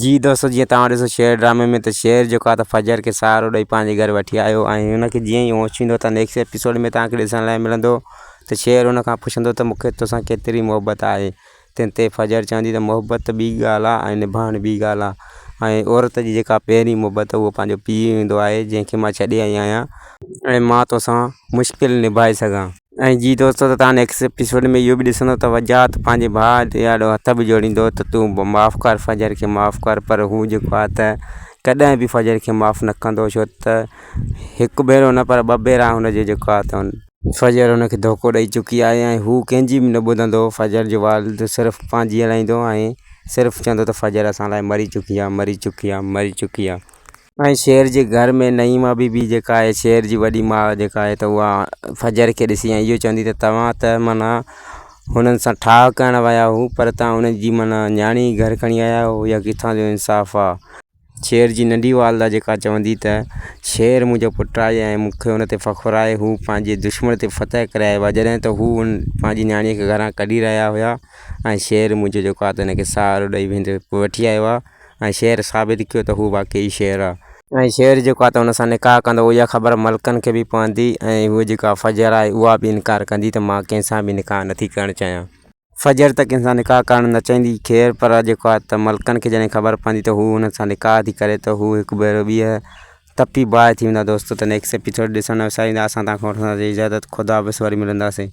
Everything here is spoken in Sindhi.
جي دوستو جيئن تواں ڏسو شعر ڊرامي ۾ ته شعر جيڪو آ ته فجر کي سهارو ڏئي پنهنجي گهر وٺي آيو ۽ هن کي جيئن هي هوش ٿيندو ته نيڪسٽ ايپيسوڊ ۾ تواں کي ڏسڻ لاء ملندو ته شعر هن کان پڇندو ته مون کي توسان ڪيتري محبت آهي تنهن تي فجر چوندي ته محبت ٻي ڳالهه آ ۽ نڀائڻ ٻي ڳالهه آ ۽ عورت جي جيڪا پهرين محبت هو پنهنجو پيء هوندو آهي جنهن کي مان ڇڏي آئي آهيان ۽ مان توسان مشڪل نڀائي سگهان. ۽ جي دوستو ته تان نيڪسٽ اپيسوڊ ۾ اهو به ڏسندو ته وجاهت پنهنجي ڀاء جي آڏو هٿ به جوڙيندو ته تون معاف ڪر فجر کي معاف ڪر پر هو جيڪو آ ته ڪڏهن به فجر کي معاف نه ڪندو ڇو ته هڪ ڀيرو نه پر ٻه ڀيرا هن جي جيڪو آ ته فجر هن کي ڌوڪو ڏئي چڪي آهي ۽ هو ڪنهن جي به نه ٻڌندو فجر جو والد صرف پنهنجي هلائيندو ۽ صرف چوندو ته فجر اسان لاء مري چڪي آ مري چڪي آ مري چڪي آ. ۽ شير جي گهر ۾ نعيما بي بي جيڪا آهي شير جي وڏي ماء جيڪا آهي ته اها فجر کي ڏسي ۽ اهو چوندي ته توهان ته معنيٰ هنن سان ٺاهه ڪرڻ ويا هو پر تان ان جي معنيٰ نياڻي گهر کڻي آيا آهيو اها ڪٿان جو انصاف آهي شير جي ننڍي والده جيڪا چوندي ته شير منهنجو پٽ آهي ۽ مون کي ان تي فخر آهي هو پنهنجي دشمن تي فتح ڪري آيو آهي جڏهن ته هو ان پنهنجي نياڻي کي گهران ڪڍي رهيا هيا ۽ شير منهنجو جيڪو آهي ته ان کي سهارو ڏئي ويندو وٺي آيو آهي ۽ شعر ثابت ڪيو ته هو واقعي شعر آ. ۽ شعر جيڪو آ ته ان سان نڪاح ڪندو اها خبر ملڪن کي به پوندي ۽ هوء جيڪا فجر آهي اها به انڪار ڪندي ته مان ڪنهن سان به نڪاح نٿي ڪرڻ چاهيان. فجر ته ڪنهن سان نڪاح ڪرڻ نه چاهيندي خير پر جيڪو آ ته ملڪن کي جڏهن خبر پوندي ته هو هنن سان نڪاح ٿي ڪري ته هو هڪ ڀيرو ٻيهر تپي باهه ٿي ويندا دوستو ته نيڪسٽ ايپيسوڊ ڏسڻ ۾ وساريندا اسان توهان کان وٺنداسين اجازت خداحافظ وري ملنداسين.